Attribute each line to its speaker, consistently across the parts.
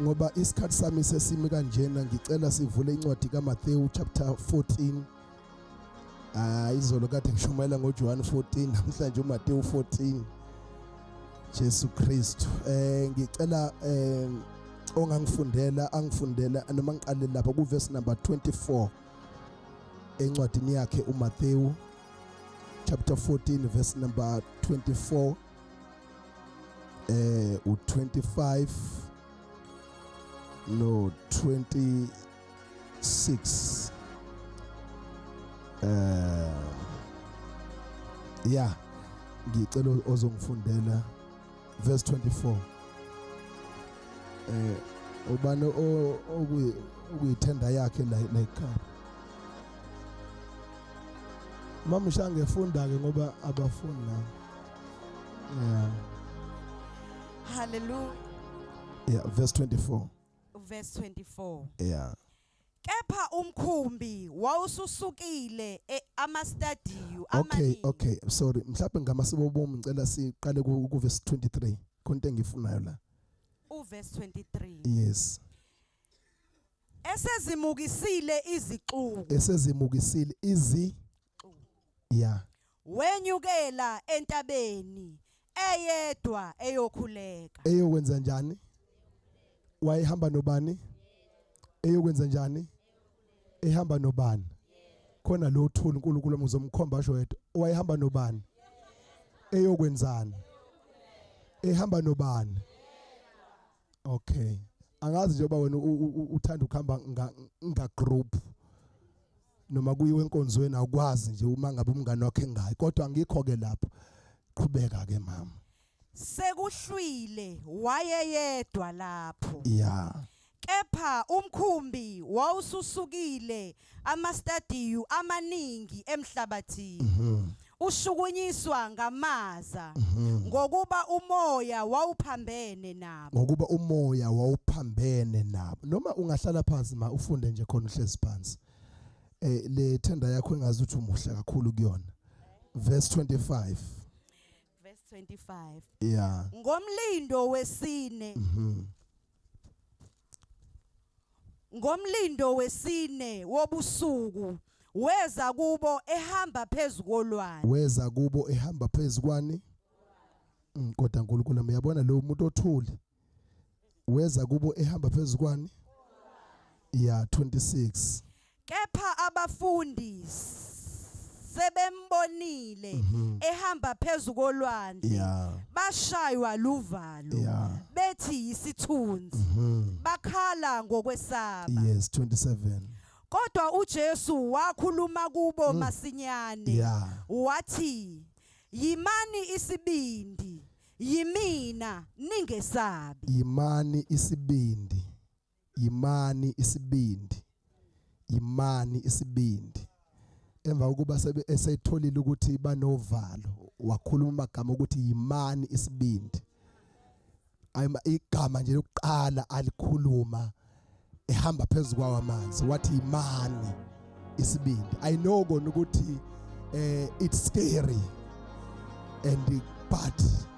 Speaker 1: ngoba isikhathi sami sesimi kanjena ngicela sivule incwadi kaMathewu chapter 14 ah izolo kade ngishumayela ngoJohane 14 namhlanje uMathewu 14 Jesu Kristu eh ngicela eh ongangifundela angifundela noma ngiqale lapha ku verse number 24 encwadini yakhe uMathewu chapter 14 verse number 24 eh u25 no 26 eh yeah ngicela ozongifundela verse 24 eh ubani okuyi ukuyithenda yakhe la la ekhaya mama ushange funda ke ngoba abafuni nami Yeah.
Speaker 2: Hallelujah. Yeah, verse
Speaker 1: 24.
Speaker 2: Verse 24. Yeah.
Speaker 1: Kepha
Speaker 2: umkhumbi wawususukile e- amastadiyu Okay, amaningi. okay. Sorry.
Speaker 1: Mhlawumbe ngama sibobomu ngicela siqale ku ku verse 23. Konke engifunayo la.
Speaker 2: Uverse 23. Yes. Esezimukisile izixuku. Esezimukisile izi
Speaker 1: Yeah.
Speaker 2: Wenyukela entabeni eyedwa eyokhuleka. Eyokwenza njani?
Speaker 1: Wayehamba nobani? Eyokwenza njani? Ehamba nobani? Khona lo thuli uNkulunkulu omuzomkhomba asho yedwa. Wayehamba nobani? Eyokwenzani? Ehamba nobani? Okay. Angazi njengoba wena uthanda ukuhamba nga group. noma kuyiwe enkonzweni awukwazi nje uma ngabe umngane wakhe ngayi kodwa angikho ke lapho qhubeka ke mama sekuhlwile
Speaker 2: wayeyedwa lapho yeah
Speaker 1: kepha
Speaker 2: umkhumbi wawususukile amastadiyu amaningi emhlabathini mhm. ushukunyiswa ngamaza mhm. ngokuba umoya wawuphambene nabo ngokuba umoya wawuphambene nabo noma ungahlala phansi ma ufunde nje khona uhlezi phansi eh le tender yakho engazi ukuthi umuhle kakhulu kuyona verse 25 verse 25 yeah
Speaker 1: ngomlindo wesine mhm.
Speaker 2: Ngomlindo wesine wobusuku weza kubo ehamba phezu kolwandle. Weza kubo ehamba phezu kwani? Mm, Kodwa uNkulunkulu uyabona lo muntu othuli. Weza kubo ehamba phezu kwani? Yeah, 26. Kepha abafundi sebembonile Mhm. ehamba phezu kolwandle Yeah. bashaywa luvalo Yeah. bethi yisithunzi Mhm. bakhala ngokwesaba Yes, 27.
Speaker 1: kodwa
Speaker 2: uJesu wakhuluma kubo masinyane Yeah. wathi yimani isibindi yimina ningesabi Yimani isibindi. yimani isibindi yimani isibindi emva kokuba esetholile ukuthi banovalo wakhuluma amagama ukuthi yimani isibindi ayima igama nje lokuqala alikhuluma ehamba phezulu kwawo amanzi wathi yimani isibindi i know kona ukuthi eh it's scary and but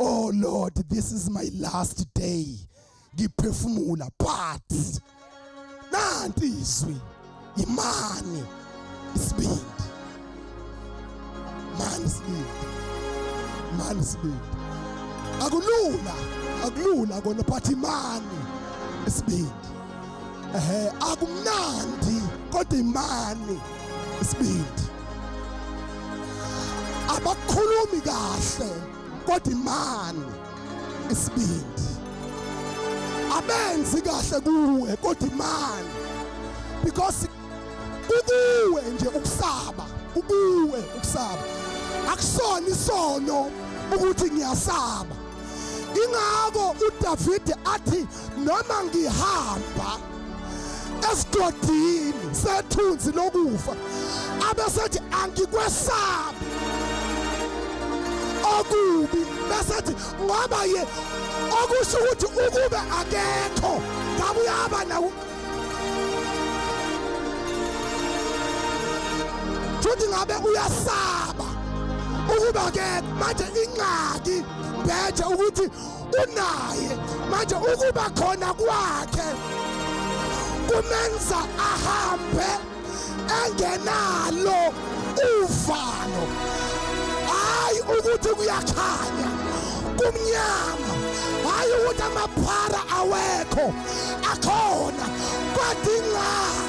Speaker 2: oh lord this is my last day ngiphefumula but nanti izwi imani isibindi mani isibindi mani isibindi akulula akulula kona but imani isibindi ehe akumnandi kodwa imani isibindi abakhulumi kahle kodwa imani isibindi abenzi kahle kuwe kodwa imani because kukuwe nje ukusaba
Speaker 1: kukuwe ukusaba akusona isono ukuthi ngiyasaba ingako uDavide athi noma ngihamba esigodini sethunzi lokufa abesethi angikwesabi okubi besethi ngoba ye okusho ukuthi ukube akekho ngabe uyaba nawo futhi ngabe uyasaba ukuba akekho manje ingxaki bethe ukuthi unaye manje ukuba khona kwakhe kumenza ahambe engenalo uvalo hayi ukuthi kuyakhanya kumnyama hayi ukuthi amaphara awekho akhona kwadingani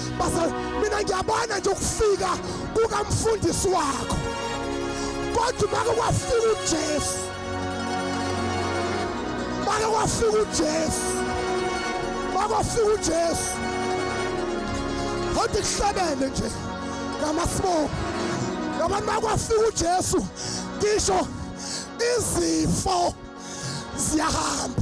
Speaker 1: basa mina ngiyabona nje ukufika kukamfundisi wakho kodwa make kwafika uJesu make kwafika uJesu make kwafika uJesu kodwa kuhlabene nje ngamasibobo ngabantu bakwafika uJesu ngisho izifo ziyahamba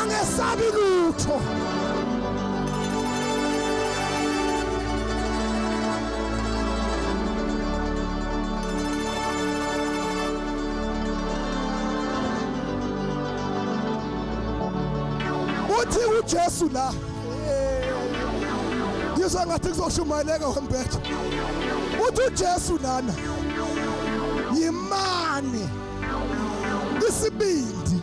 Speaker 1: angesabi lutho uthi uJesu la ngizwa ngathi kuzoshumayeleka wembethe uthi uJesu lana yimani isibindi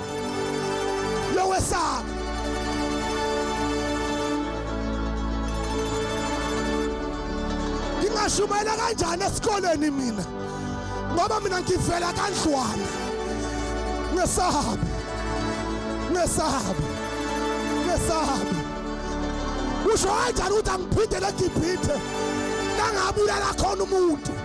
Speaker 1: lowesaba ngingashumayela kanjani esikoleni mina ngoba mina ngivela kandlwana ngesahabi ngesahabi ngesahabi usho kanjani ukuthi angiphindele egibhithe nangabulala khona umuntu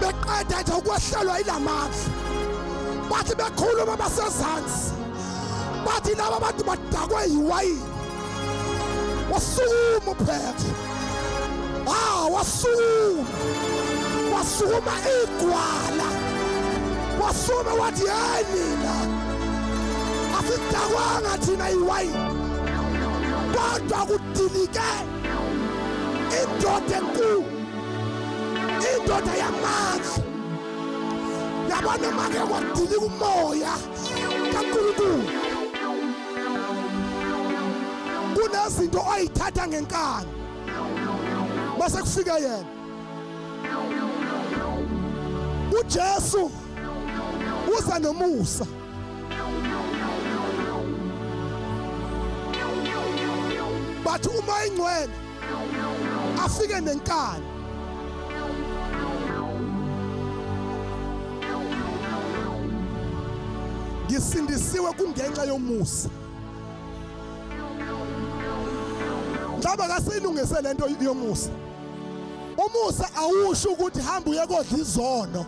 Speaker 1: beqeda nje ukwehlelwa ilamandla bathi bekhuluma basezansi bathi laba bantu badakwe yiwayini wasukuma uphethe ah wasukuma wasukuma igwala wasukuma wathi hey nina asidakwanga thina iwayini kodwa kudilike indoda enkulu indoda yamandla yabona make kwadilika umoya kaNkulunkulu kunezinto oyithatha ngenkani base kufika yena uJesu uza nomusa bathi uma ingcwele afike nenkani ngisindisiwe kungenxa yomusa ngaba kasiyilungise lento yomusa umusa awusho ukuthi hamba uye kodla izono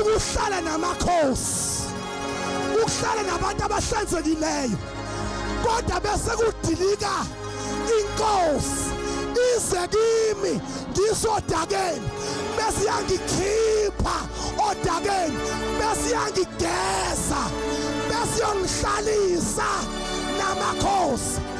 Speaker 1: ukuhlala namakhosi ukuhlala nabantu abahlanzekileyo kodwa bese kudilika inkosi ize kimi ngisodakeni bese yangikhipha odakeni bese yangigeza bese yongihlalisa namakhosi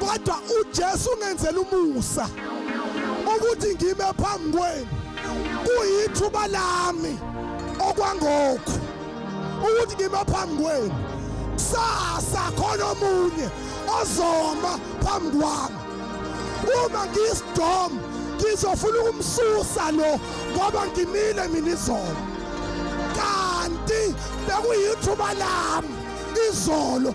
Speaker 1: kodwa uJesu ungenzela umusa ukuthi ngime phambi kwenu kuyithuba lami okwangokho ukuthi ngime phambi kwenu kusasa khona omunye ozoma phambi kwami uma ngiyisidom ngizofuna ukumsusa lo ngoba ngimile mina izolo kanti bekuyithuba lami izolo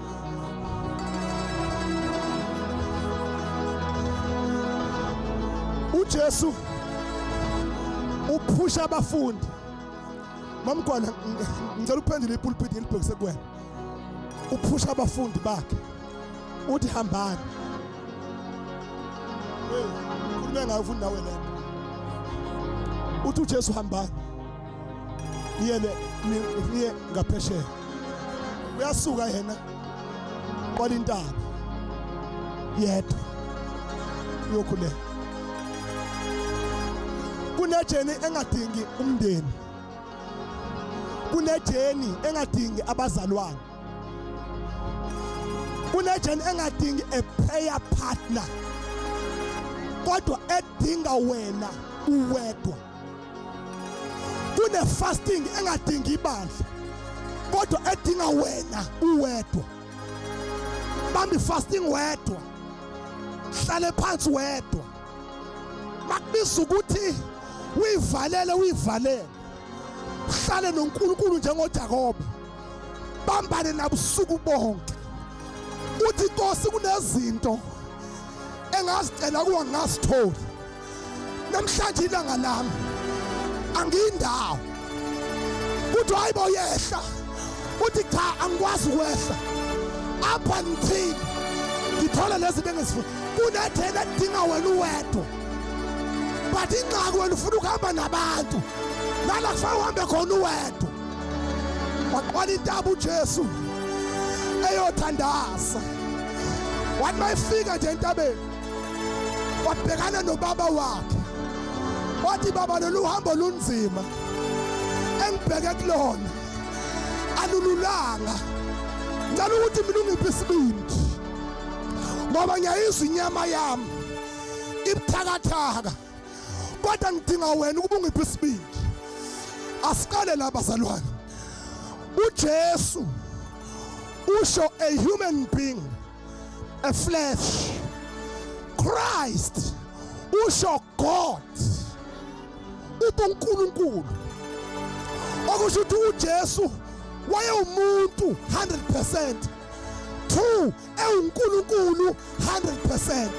Speaker 1: uJesu uphusha abafundi mamgwana ngicela uphendule ipulpiti ngilibhekise kuwena uphusha abafundi bakhe uthi hambani khulume ngayo futhi nawe lento uthi uJesu hambani niye niye ngaphesheya uyasuka yena kwala intaba yedwa uyokhuleka kunejeni engadingi umndeni kunejeni engadingi abazalwane kunejeni engadingi a prayer partner kodwa edinga wena uwedwa kune fasting engadingi ibandla kodwa edinga wena uwedwa bambi fasting wedwa hlale phansi wedwa makubiza ukuthi uyivalele uyivalele uhlale noNkulunkulu njengoJakobe bambane nabusuku bonke uthi Nkosi kunezinto engazicela kuwa ngasitholi namhlanje ilanga lami angiyindawo kuthi hayi bo yehla uthi cha angikwazi ukwehla apha ngithini ngithola lezi bengizifuna kunethela edinga wena uwedwa but ingxaki wena ufuna ukuhamba nabantu nala kufanele uhambe khona uwedwa waqwala intaba ujesu eyothandaza wathi mayifika nje entabeni wabhekana nobaba wakhe wathi baba lolu hambo lunzima engibheke kulona alululanga ngicela ukuthi mina ungiphe isibindi ngoba ngiyayizwa inyama yami ibuthakathaka kodwa ngidinga wena ukuba ungiphe isibindi asiqale la bazalwane uJesu usho a human being a flesh Christ usho God ubunkulunkulu okusho ukuthi uJesu wayewumuntu 100% two ewunkulunkulu 100%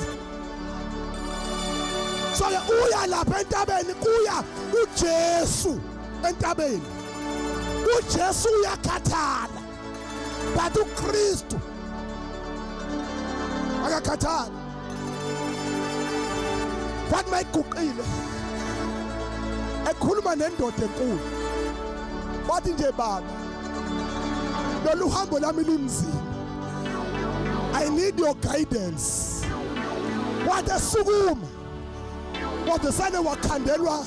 Speaker 1: so ke uya lapha entabeni kuya uJesu entabeni uJesu uyakhathala but uKristu akakhathali kwathi mayiguqile ekhuluma nendoda enkulu wathi nje baba lolu hambo lami lunzima i need your guidance wathi esukuma wathi sane wakhandelwa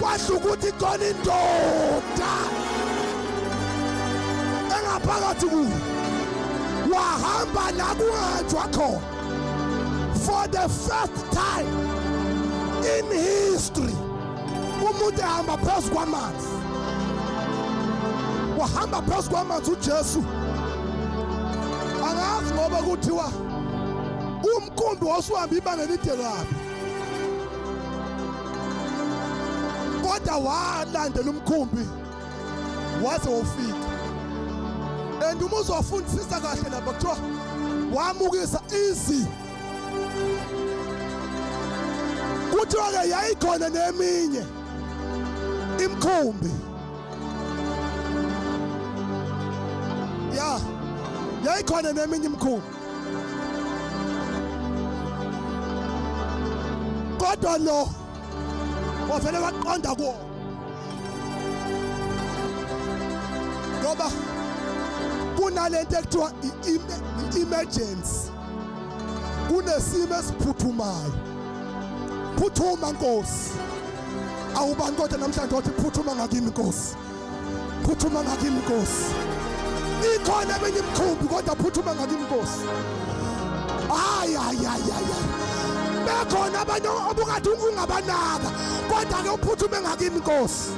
Speaker 1: kwasho ukuthi khona indoda engaphakathi kuyo wahamba la kungahanjwa khona for the first time in history umuntu ehamba phezu kwamanzi wahamba phezu kwamanzi ujesu angazi ngoba kuthiwa umkhumbi wasuhamba ibanga elide kabi kodwa walandela umkhumbi waze wofika and uma uzofundisisa kahle lapha kuthiwa wamukisa izi kuthiwa-ke yayikhona neminye imkhumbi ya yayikhona neminye imkhumbi kodwa lo wavele waqonda kuwo ngoba kunalento ekuthiwa i-emergency kunesimo esiphuthumayo phuthuma nkosi awubani kodwa namhlanje wathi phuthuma ngakimi nkosi phuthuma ngakimi Nkosi ikhona eminye imkhumbi kodwa phuthuma ngakimi Nkosi hayi hayi hayi hayi bekhona abanye obukade ungabanaka kodwa ke uphuthume ngakimi Nkosi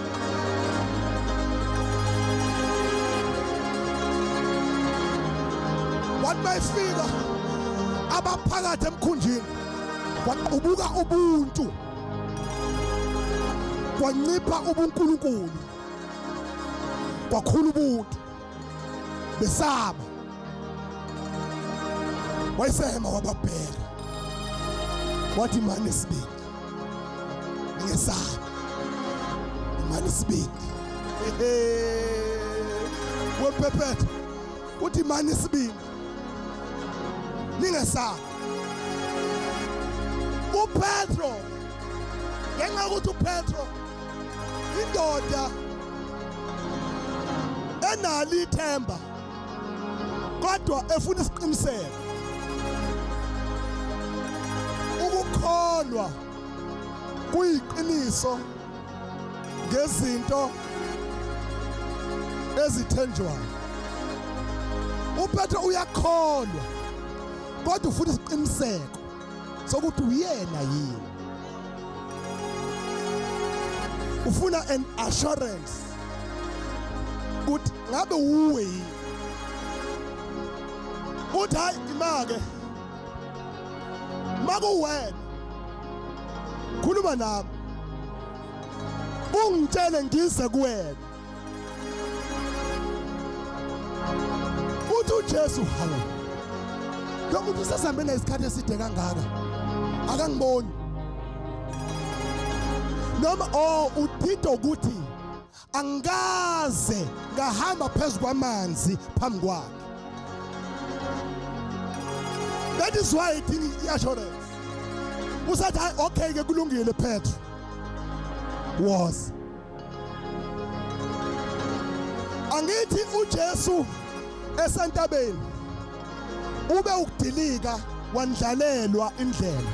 Speaker 1: wathi mayifika abaphakathi emkhunjini ubuka ubuntu kwancipha ubunkulunkulu kwakhula ubuntu besaba wayesehema wababheka wathi mani sibindi ngesaba mani sibindi wephephetha uthi mani sibindi ningesabi upetro ngenxa yokuthi upetro indoda enalo ithemba kodwa efuna isiqiniseko ukukholwa kuyiqiniso ngezinto ezithenjwayo uphethe uyakholwa kodwa ufuna isiqiniseko sokuthi uyena yini ufuna an assurance ukuthi ngabe uwe yini uthi hayi imake makuwena khuluma nami ungitshele ngize kuwena uthi uJesu hawu lo muntu usesambe nesikhathi eside kangaka akangiboni noma o oh, uthitha ukuthi angikaze ngahamba phezu kwamanzi phambi kwakhe that is why idinga i-assurance usathi hayi okay ke kulungile petro was angithi ujesu esentabeni ube ukudilika wandlalelwa indlela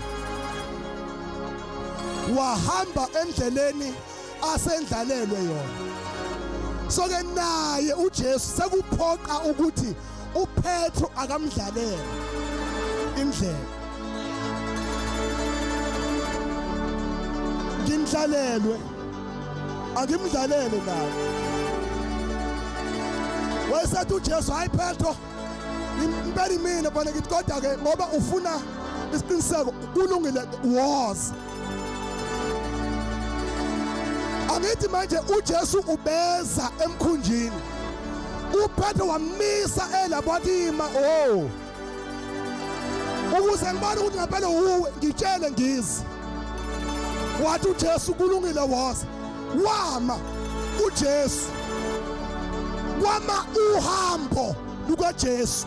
Speaker 1: wahamba endleleni asendlalelwe yona so ke naye uJesu sekuphoqa ukuthi uPetro akamdlalele indlela ngimdlalelwe angimdlalele naye wayesethi uJesu hayi Petro impela imina bana ngithi kodwa ke ngoba ufuna isiqiniseko kulungile woza angithi manje uJesu ubeza emkhunjini uPetro wamisa elapho wathi ima oh ukuze ngibone ukuthi ngempela uwe ngitshele ngizi wathi uJesu kulungile woza wama uJesu wama uhambo lukaJesu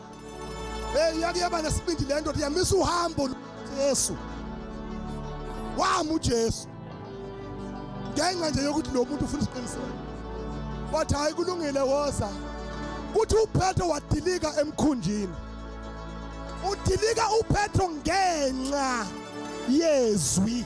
Speaker 1: Hey yake yaba nesibindi lento yamisa uhambo Jesu. Wamu Jesu. Ngenxa nje yokuthi lo muntu ufuna isiqiniseko. Wathi hayi kulungile woza. Kuthi uPetro wadilika emkhunjini. Udilika uPetro ngenxa yezwi.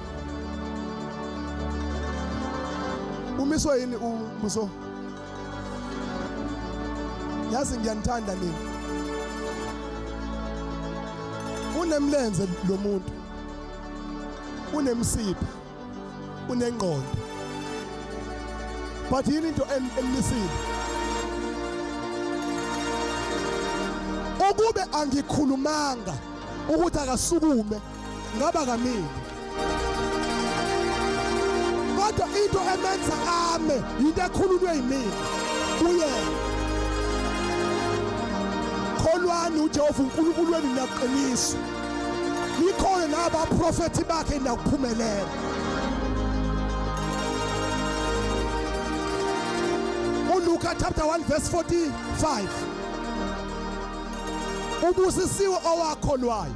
Speaker 1: umiswe yini umbuso yazi ngiyanithanda mina unemlenze lo muntu unemsipha unengqondo but yini into emlisile ukube angikhulumanga ukuthi akasukume ngaba kamile kodwa into emenza ame yinto ekhulunywe yimina kuyena kholwani ujehova unkulunkulu wenu nakuqinisa likhona nabaprofethi bakhe nakuphumelela uLuka chapter 1 verse 45 ubusisiwe owakholwayo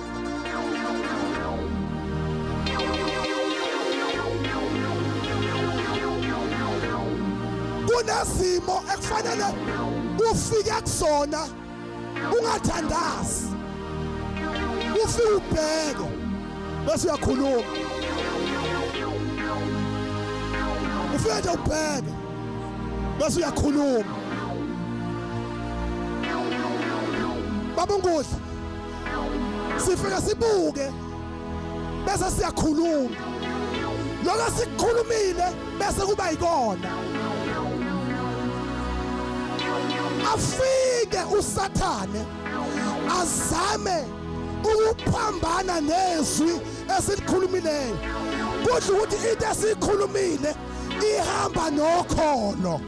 Speaker 1: kunezimo ekufanele ufike kuzona ungathandazi ufike ubheke bese uyakhuluma ufike nje ubheke bese uyakhuluma baba unkudla sifike sibuke bese siyakhuluma lokho sikukhulumile bese kuba yikona afike usathane azame ukuphambana nezwi esilikhulumileyo kudla ukuthi into esiyikhulumile ihamba nokholo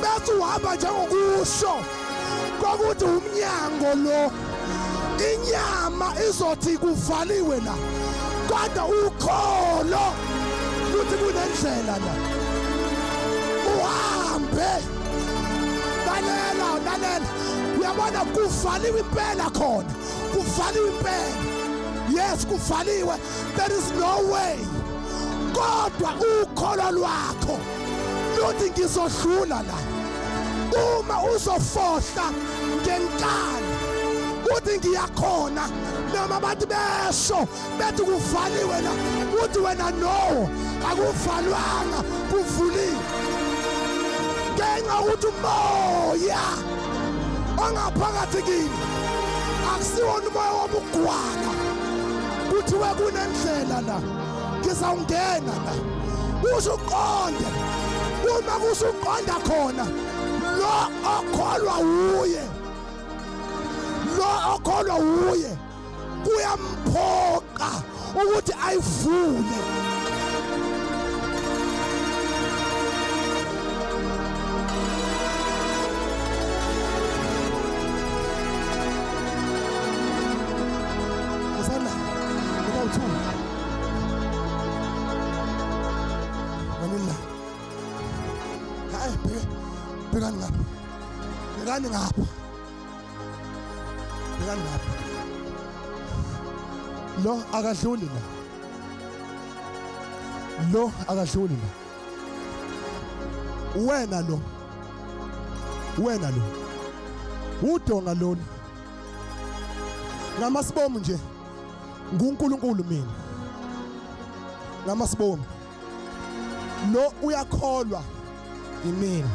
Speaker 1: bese uhamba njengokusho kokuthi umnyango lo inyama izothi kuvaliwe la kodwa ukholo ukuthi kunendlela la uhambe lalela lalela uyabona kuvaliwe impela khona kuvaliwe impela yes kuvaliwe there is no way kodwa ukholo lwakho Lodi ngizodlula la uma uzofohla ngenkani uthi ngiyakhona noma abantu besho bethi kuvaliwe la uthi wena no akuvalwanga kuvuliwe ngenxa ukuthi umoya ongaphakathi kini akusiwona umoya wobugwala kuthiwe kunendlela la ngizawungena la kuze uqonde uma kuze uqonda khona lo okholwa wuye lo okholwa wuye kuyamphoqa ukuthi ayivule Manila. Hayi bheka bheka ngapha. Bheka ngapha. Bheka ngapha. Lo akadluli la. Lo akadluli la. Wena lo. Wena lo. Udonga lona. Ngamasibomu nje. nguNkulunkulu mina ngama sibonga lo uyakholwa yimina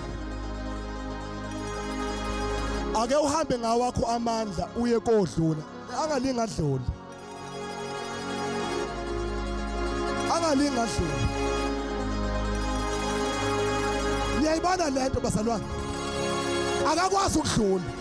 Speaker 1: ake uhambe ngawakho amandla uye kodlula angalingi adlule angalingi adlule niyayibona lento bazalwane akakwazi ukudlula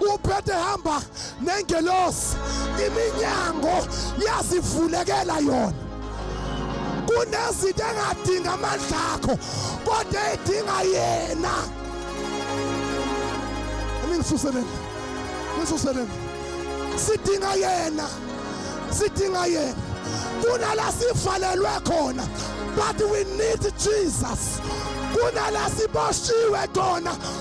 Speaker 1: uphethe hamba nengelosi iminyango yazivulekela yona kunezinto engadinga amandla akho kodwa edinga yena ningisuseleni nisuseleni sidinga yena sidinga yena kunala sivalelwe khona but we need Jesus kunala siboshiwe khona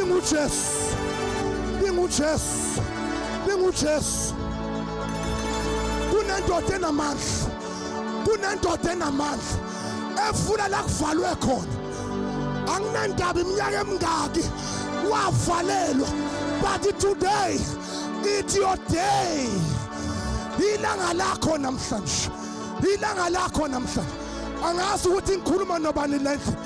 Speaker 1: Ingujesu. Ingujesu. Ingujesu. Kunendoda enamandla. Kunendoda enamandla efuna la kuvalwe khona. Anginandaba iminyaka emingaki wavalelwa but today it's your day. Ilanga lakho namhlanje. Ilanga lakho namhlanje. Angazi ukuthi ngikhuluma nobani lendlela.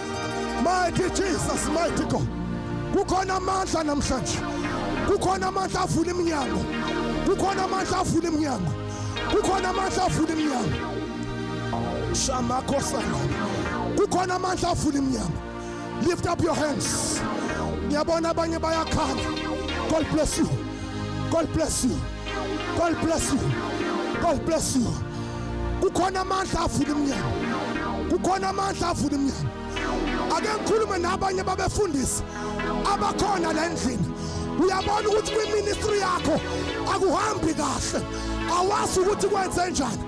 Speaker 1: Mighty Jesus, mighty God. Kukhona amandla namhlanje. Kukhona amandla avula iminyango. Kukhona amandla avula iminyango. Kukhona amandla avula iminyango. Shama kosana. Kukhona amandla avula iminyango. Lift up your hands. Ngiyabona abanye bayakhala. God bless you. God bless you. God bless you. God bless you. Kukhona amandla avula iminyango. Kukhona amandla avula iminyango. Ake ngikhulume nabanye babefundisi abakhona la endlini. Uyabona ukuthi kwi-ministry yakho akuhambi kahle. Awazi ukuthi kwenze njani.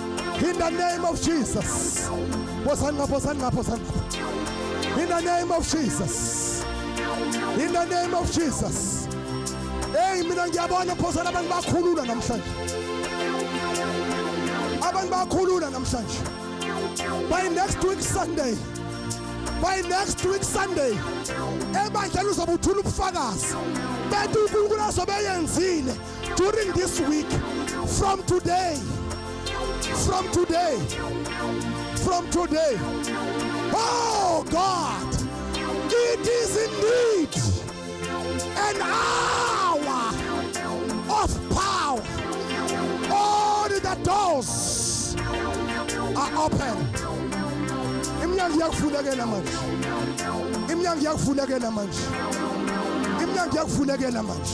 Speaker 1: In the name of Jesus. Bosan nga, bosan nga, bosan nga. In the name of Jesus. In the name of Jesus. Hey mina ngiyabona phosana abantu bakhulula namhlanje. Abantu bakhulula namhlanje. By next week Sunday. By next week Sunday. Ebandleni uzobuthula ubufakazi. Bethu uNkulunkulu azobe yenzile. During this week, from today, from today, from today, oh God, it is indeed an hour of power. All the doors are open. Imnyango iyakuvulekela manje. Imnyango iyakuvulekela manje. Imnyango iyakuvulekela manje.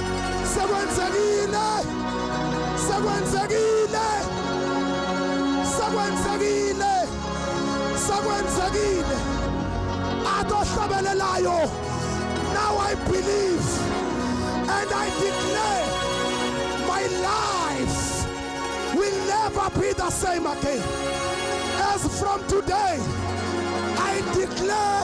Speaker 1: Sekwenzekile! Sekwenzekile! Sekwenzekile! Sekwenzekile! Adohlabelelayo! Now I believe and I declare my life will never be the same again. As from today, I declare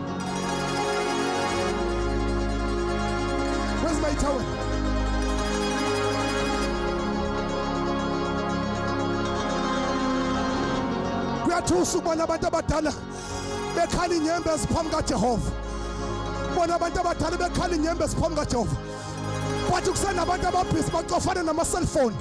Speaker 1: Where's my towel? kuyathusa ukubona abantu abadala bekhala inyembezi phambi kajehova bona abantu abadala bekhala inyembezi phambi kajehova but kusenabantu ababhizi bacofane nama-cellphone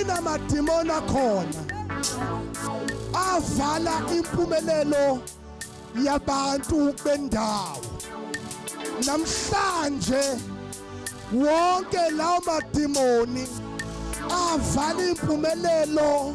Speaker 1: inamadimoni akhona avala impumelelo yabantu bendawo namhlanje wonke lawo madimoni avala impumelelo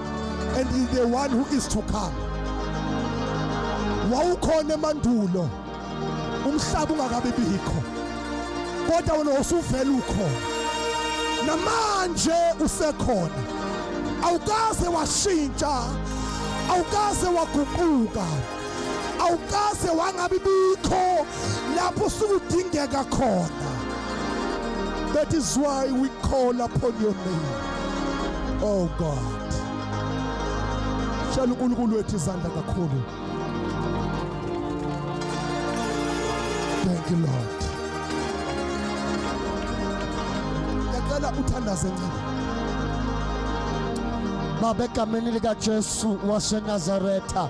Speaker 1: and is the one who is to come wawukhona emandulo umhlaba ungakabi bikho kodwa wena usuvela ukhona namanje usekhona awukaze washintsha awukaze waguquka awukaze wangabi bikho lapho sukudingeka khona that is why we call upon your name oh god shela uNkulunkulu wethu izandla kakhulu thank you lord ngiyacela uthandaze ncane
Speaker 2: baba egameni likaJesu waseNazaretha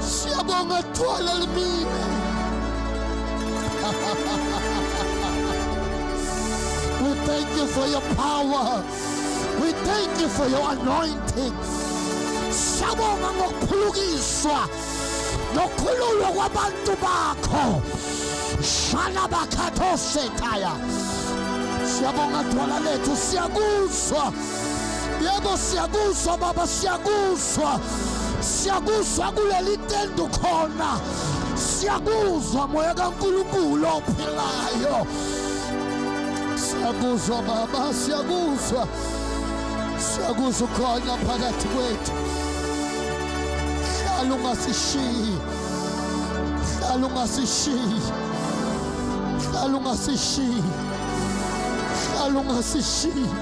Speaker 2: Siyabonga thwala limina. We thank you for your power. We thank you for your anointing. Siyabonga ngokuphulukiswa nokhululwa kwabantu bakho. Shala bakhatho setaya. Siyabonga thwala lethu siyakuzwa. Yebo siyakuzwa baba siyakuzwa siyakuzwa kuleli tende khona siyakuzwa moya kaNkulunkulu ophilayo siyakuzwa baba siyakuzwa siyakuzwa ukhona phakathi kwethu hlala ungasishiyi hlala ungasishiyi hlala ungasishiyi hlala ungasishiyi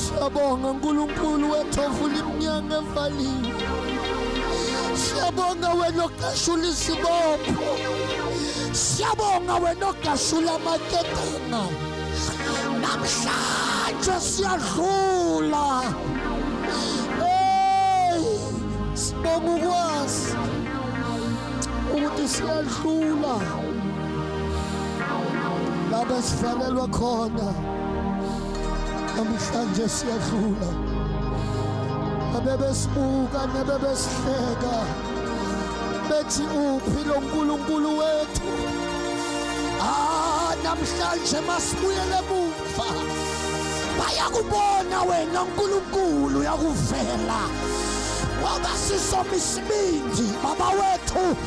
Speaker 2: Siyabonga uNkulunkulu wethu ovula iminyanga evaliwe. Siyabonga wena ogashula izibopho. Siyabonga wena ogashula amaketanga. Namhlanje siyadlula. Hey, sibonga ukwazi ukuthi siyadlula. lapho esifanelwe khona namhlanje siyadlula abebesibuka nebebesihleka bethi uphi lo nkulunkulu wethu ah namhlanje masibuyele emuva bayakubona wena nkulunkulu yakuvela ngoba sisomisibindi baba wethu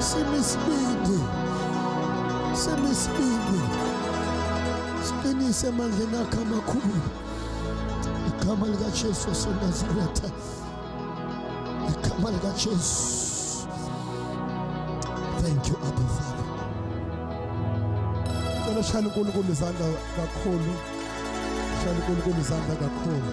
Speaker 2: Simi isibindi. Simi isibindi. Siqinise emandleni akhe amakhulu. Igama likaJesu waseNazaretha. Igama likaJesu. Thank you, Abba Father.
Speaker 1: Cela shayela uNkulunkulu izandla kakhulu. Shayela uNkulunkulu izandla kakhulu.